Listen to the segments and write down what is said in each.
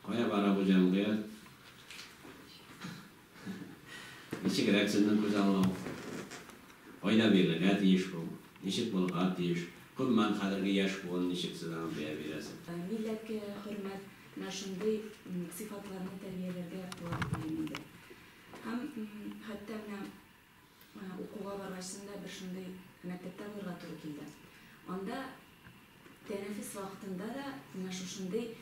Кая бара бу җәмгыять? Ничегрәк сезнең күзаллау? Кайда бирергә тиеш бу? Ничек булырга тиеш? Гомумән, хәзерге яшь буын ничек сез аңа бәя бирәсез? Милләткә хөрмәт менә шундый сыйфатларны тәрбияләргә ваеп диим инде. Һәм хәтта менә Укуга баргач да бер шундый мәктәптә булырга туры килде. Анда тәнәфес вакытында да менә шушындый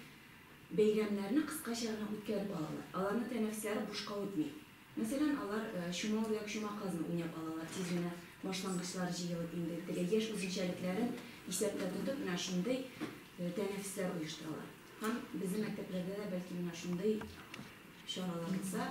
бәйрәмнәрне кыскача гына үткәреп алалар. Аларның тәнәфесләре бушка үтми. Мәсәлән, алар чума үрдәк, чума казны уйнап алалар. Тиз генә башлангычлар җыелып, инде теге яшь үзенчәлекләрен исәптә тотып, менә шундый тәнәфесләр оештыралар. Һәм безнең мәктәпләрдә дә, бәлки, менә шундый чаралар булса,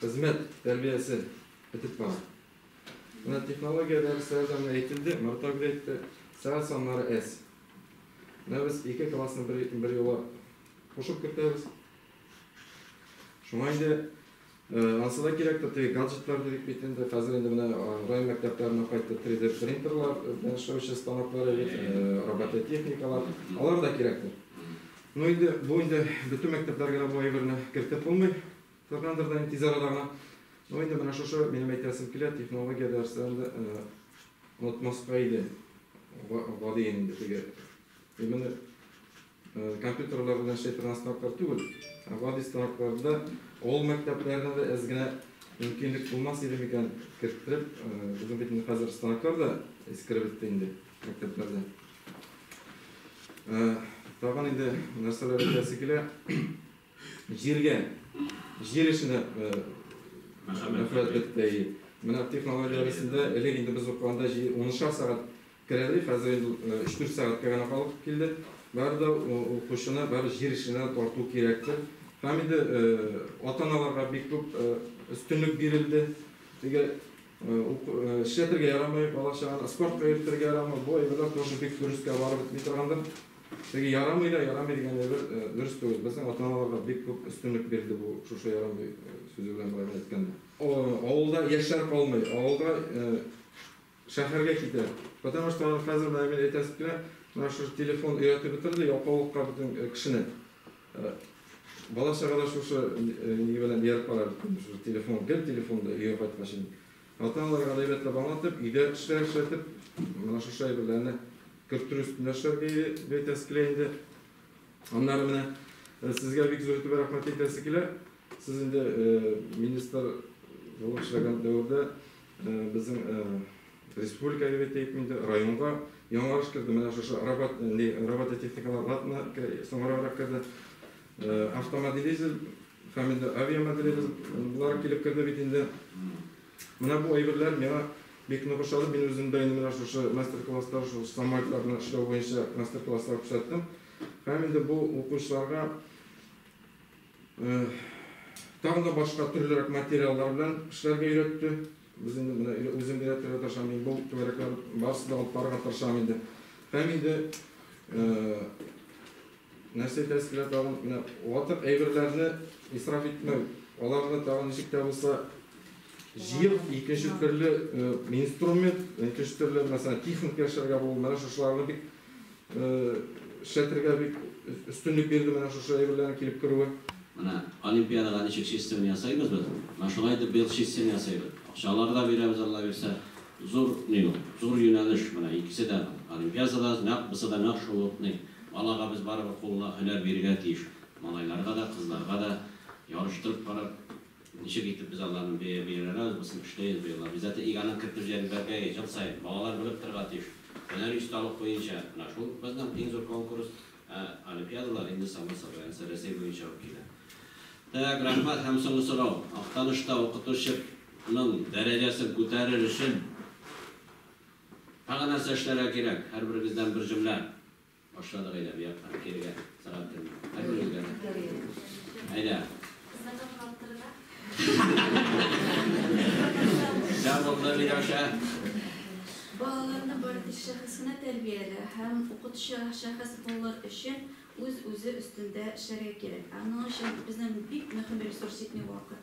Хезмәт тәрбиясе бетеп бара. Менә технология дәресләрдә менә әйтелде, Марат абый әйтте, сәгать саннары әз. Менә без ике классны бер, бер юла кушып кертәбез. Шуңа инде ансы да кирәк теге гаджетлар дидек бит инде. Хәзер инде менә район мәктәпләренә кайтты 3D принтерлар, белән эшләүче станоклар, робототехникалар. Алар да кирәктер. Ну инде бу инде бөтен мәктәпләргә дә бу әйберне кертеп булмый. Фернандо белән тиз арада гына, ну, инде менә шушы, минем әйтәсем килә, технология дәресләрен дә онытмаска иде, гадиен инде теге. Именно компьютерлар белән эшли торган станоклар түгел, ә гади станокларда авыл мәктәпләренә дә әз генә мөмкинлек булмас иде микән керттереп, безнең бит инде хәзер станоклар да искереп бетте инде мәктәпләрдә. Тагын инде нәрсәләр әйтәсе килә. Җиргә, җир эшенә мәхәббәт бетте. Менә технология арасында элек инде без укыганда унышар сәгать керәли, хәзер инде өч-дүрт сәгатькә генә калып килде. Бары да укучыны бары җир эшенә тарту кирәктер. Һәм инде ата-аналарга бик күп өстенлек бирелде. Теге Ук, эшләтергә ярамый, балачаганы спортка йөртергә ярамый. Бу әйберләр тоже бик дөрескә барып бетми торгандыр. Теге ярамый да, ярамый дигән әйбер дөрес түгел. Безнең ата-аналарга бик күп өстенлек бирелде бу шушы ярамый сүзе белән бәйле әйткәндә. Авылда яшьләр калмый, авылда шәһәргә китә. Потому что хәзер менә мин әйтәсем килә, менә шушы телефон өйрәтеп бетерде, ялкаулыкка бөтен кешене. Бала чага да шушы ни белән ияреп бара бит инде, шушы телефон, гел телефонда өйгә кайткач инде. Ата-аналарга да әйбәтләп аңлатып, өйдә эшләр эшләтеп, менә шушы әйберләрне кертер өстендә эшләргә өйрәтәсе килә инде. Аннары менә сезгә бик зур итеп рәхмәт әйтәсе килә. Сез инде министр булып эшләгән дәвердә Безнең республикага генә тиеп инде, районга яңарыш керде. Менә шушы робототехникалар латына соңраграк керде. Автомоделизм һәм инде авиамоделизм болар килеп керде бит инде. Менә бу әйберләр миңа бик нык ошады. Мин үзем дә инде менә шушы мастер-класслар, шул самолетларны эшләү буенча мастер-класслар күрсәттем. Һәм инде бу укучыларга Тагын да башка төрлерәк материаллар белән эшләргә өйрәтте. Без инде менә үзем генә төрле тырышам, мин бу түгәрәкләр барысы да алып барырга тырышам инде. Һәм инде нәрсә әйтәсе килә тагын, менә ватык әйберләрне исраф итмәү, аларны тагын ничек тә булса җыеп, икенче төрле инструмент, икенче төрле мәсәлән техника яшәргә булу, менә шушыларны бик Эшләтергә бик өстенлек бирде менә шушы әйберләрнең килеп керүе. Менә олимпиадага ничек чистыны ясыйбыз без. Менә шулай итеп быел чистыны ясыйбыз. Акчалар да бирәбез, Алла бирсә. Зур ни ул, зур юнәлеш менә икесе дә. Олимпиада да, нәкъ бусы да нәкъ шул ук ни. Балага без барыбер кулына һөнәр бирергә тиеш. Малайларга да, кызларга да ярыштырып карап. Ничек итеп без аларны бия бияләнәбез, бу син эшләй инде быел. Обязательно иганын кертеп җәен бәргәе ел саен. Балалар белеп торырга тиеш. Һөнәри осталык буенча менә шул безнең иң зур конкурс. Ә олимпиадалар инде само собой, анысы Рәсәй буенча ук килә. Так, рәхмәт һәм соңгы сорау. Актанышта укытучы ның дәрәҗәсен күтәрер өчен тагы нәрсә эшләргә кирәк? Һәрберегездән бер җөмлә Башладык әйдә бу якка кирегә сәгать телне. Әйдә үзгә. Әйдә. Сә булды Миләүшә. Балаларны бардиш шәхесенә тәрбияле һәм укытучы шәхес булыр өчен үз-үзе өстендә эшләргә кирәк. Ә моның өчен безнең бик мөһим ресурс итми вакыт.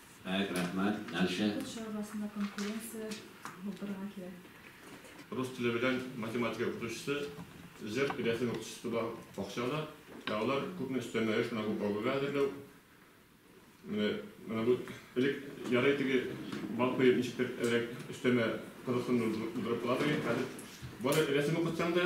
Бәк рәхмәт. Дальше. Укытучы арасында конкуренция булдырырга кирәк. Рус теле белән математика укытучысы, зер рәсем укытучысы бар бакча да. Ә алар күпме өстәмә эш менә бу бабайга әзерләү. Менә менә бу элек ярый теге бал коеп ничектер рәк өстәмә кызыксыну булдырып кала торган. Хәзер бары рәсем укытсаң да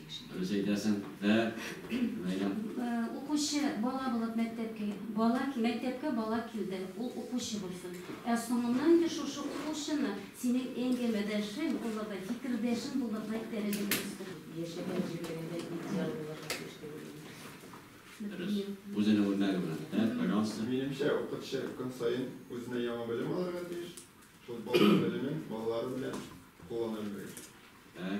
Дөрес әйтәсең, дә, Ләйлә. Укучы, бала булып мәктәпкә. Бала, мәктәпкә бала килде, ул укучы булсын. Ә соңыннан инде шушы укучыны синең әңгәмәдәшең, ул апай, фикердәшең булырлык дәрәҗәгә үстер. Яшәгән җирлегендә идеал булырга тиеш дип уйлыйм. Дөрес. Үзенең үрнәге белән, дә, пожалуйста. Минемчә, укытчы көн саен үзенә яңа белем алырга тиеш, шул балалар белемен балалары белән куллана белергә кирәк. Ә.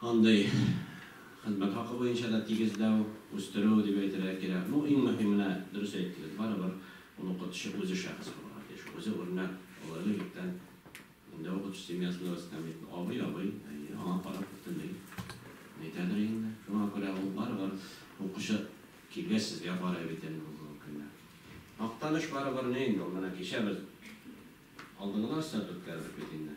Андый хезмәт хакы буенча да тигезләү, үстерү дип әйтергә кирәк. Ну, иң мөһименә, дөрес әйттегез, барыбер ул укытучы үзе шәхес булырга тиеш, үзе үрнәк, ул элек-электән инде укытучы семьясында үскән бит. Абый, абый, әйе, аңа карап бөтенләй әйтәдер инде. Шуңа күрә ул барыбер укучы килгәч сезгә карый бит инде бүгенге көндә. Актаныш барыбер ни инде ул, менә кичә без алдынгы да астырту үткәрдек бит инде.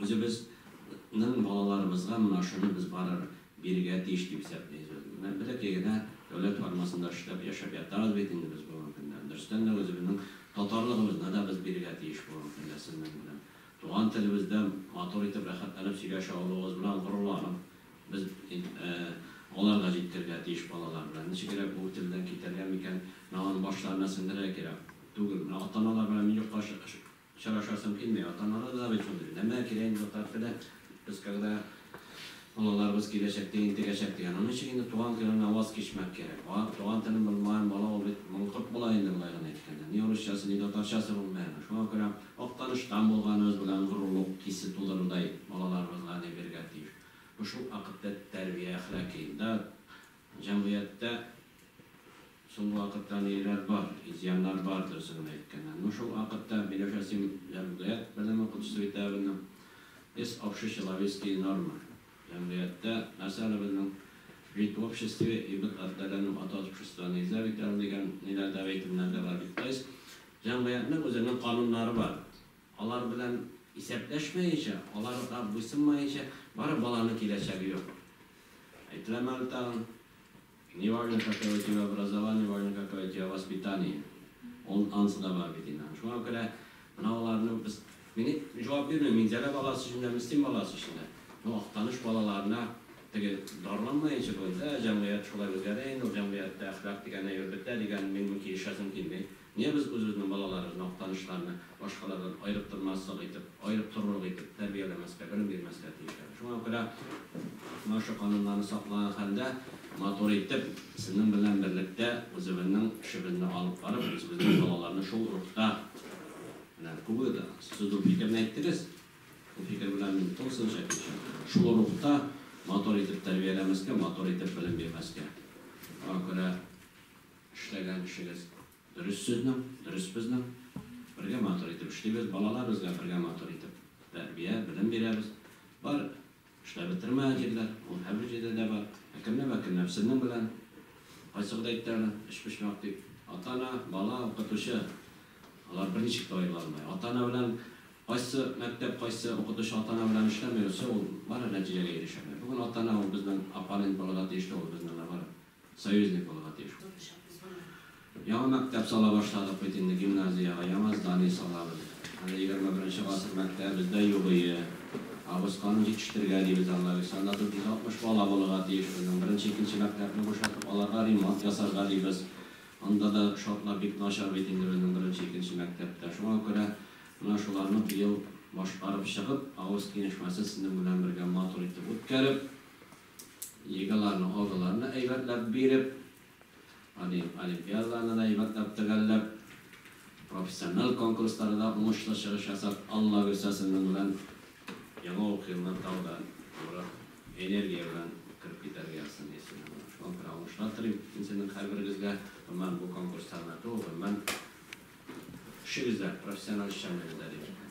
Үзебез нең балаларыбызга менә шуны без барыр бирергә тиеш дип исәплибез без. Менә бәләкәй генә дәүләт формасында эшләп, яшәп ятабыз бит инде без бүгенге көндә. Дөрестән дә үзебезнең татарлыгыбызны да без бирергә тиеш бүгенге көндә сезнең белән. Туган телебездә матур итеп, рәхәтләнеп сөйләшә алуыбыз белән горурланып, без алар да җиткергә тиеш балалар белән. Ничегрәк бу телдән китәргә микән? Менә аны башларына сеңдерергә кирәк түгелме? Менә ата-аналар белән мин юкка Очрашасым килми, атаманы да бит шундый, нәмә кирәк инде татар теле, без когда балаларыбыз киләчәктә интегәчәк дигән, аның өчен инде туган телен аваз кичмәк кирәк, туган телен белмаган бала ул бит маңкорт була инде болай гына әйткәндә, ни урысчасы, ни татарчасы белмәй аны, шуңа күрә Актаныштан булганыбыз белән горурлык хисе тудырырдай балаларыбызга ни бирергә тиеш, бу шул вакытта тәрбия әхлаки, да Җәмгыятьтә соңгы вакытта ниләр бар, изъяннар бар, дөресен генә әйткәндә. Ну, шул вакытта, Миләүшә, син җәмгыять белеме укытучысы бит әле быны. Эс общечеловецкие нормы. Җәмгыятьтә нәрсә әле безнең? Жить в обществе и быть отделенным от общества нельзя бит әле дигән ниләр дә әйтемнәр дә бар бит. То есть, җәмгыятьнең үзенең кануннары бар. Алар белән исәпләшмәенчә, аларга буйсынмаенча, бары баланың киләчәге юк. Әйтелә мәл тагын, Не важно, какое у тебя образование, важно, какое у тебя воспитание. Он ансы да бар бит инде. Шуңа күрә менә аларны без, мин җавап бирмим, Минзәлә баласы өчен дә, Мөслим баласы өчен дә. Ну, Актаныш балаларына теге дарланмаенча бүген, ә, җәмгыять шулай үзгәрә инде, ул җәмгыятьтә әхлак дигән әйбер бетә дигән, мин килешәсем килми. Нигә без үзебезнең балаларыбыз, мактанышларны башкалардан аерыктырмаслык итеп, аерыктырырлык итеп тәрбияләмәскә, белем бирмәскә тиешләр? Шуңа күрә менә шушы кануннарны саклаган хәлдә, матур итеп, сезнең белән берлектә үзебезнең эшебезне алып барып, үзебезнең балаларны шул рухта Менә күбе дә сез бу фикерне әйттегез, бу фикер белән мин тулысынча килешәм. Шул рухта матур итеп тәрбияләмәскә, матур итеп белем бирмәскә. Шуңа күрә Эшләгән эшегез дөрес сезнең, дөрес безнең. Бергә матур итеп эшлибез, балалар безгә бергә матур итеп тәрбия, белем бирәбез. Бар эшләп бетермәгән җирләр, ул һәрбер җирдә дә бар. Әкренләп-әкренләп сезнең белән, кайсы гыда әйтте әле, өчпочмак дип, ата-ана, бала, укытучы, алар берничек тә аерыла алмый. Ата-ана белән кайсы мәктәп, кайсы укытучы ата-ана белән эшләми йөрсә, ул бары нәтиҗәгә ирешә алмый. Бүген ата-ана ул безнең оппонент булырга тиешле, ул безнең, наоборот. Союзник булырга тиеш. Яңа мәктәп сала башладык бит инде, гимназиягә яңа здание салабыз. Әле егерме беренче гасыр мәктәбебез дә югые. Абысканы җитештергә дибез анда без. Анда 460 бала булырга тиеш безнең. Беренче, икенче мәктәпне бушатып, аларга ремонт ясарга дибез. Анда да шартлар бик начар бит инде безнең беренче, икенче мәктәптә. Шуңа күрә менә шуларны быел башкарып чыгып, авыз киңәшмәсе сезнең белән бергә матур итеп үткәреп, Лигаларның алдыларына әйбәтләп биреп, аны олимпиадаларны да әйбәтләп төгәлләп, профессиональ конкурсларда да уңышлы чыгыш ясап, Алла бирсә, сезнең белән яңа уку елына тагы да ныграк энергия белән кереп китәргә язсын иясенә. Шуңа күрә уңышлар телим мин сезнең һәрберегезгә. Гомумән, бу конкурсларны түгел, гомумән, эшегездә, профессиональ эшчәнлегездә, дим.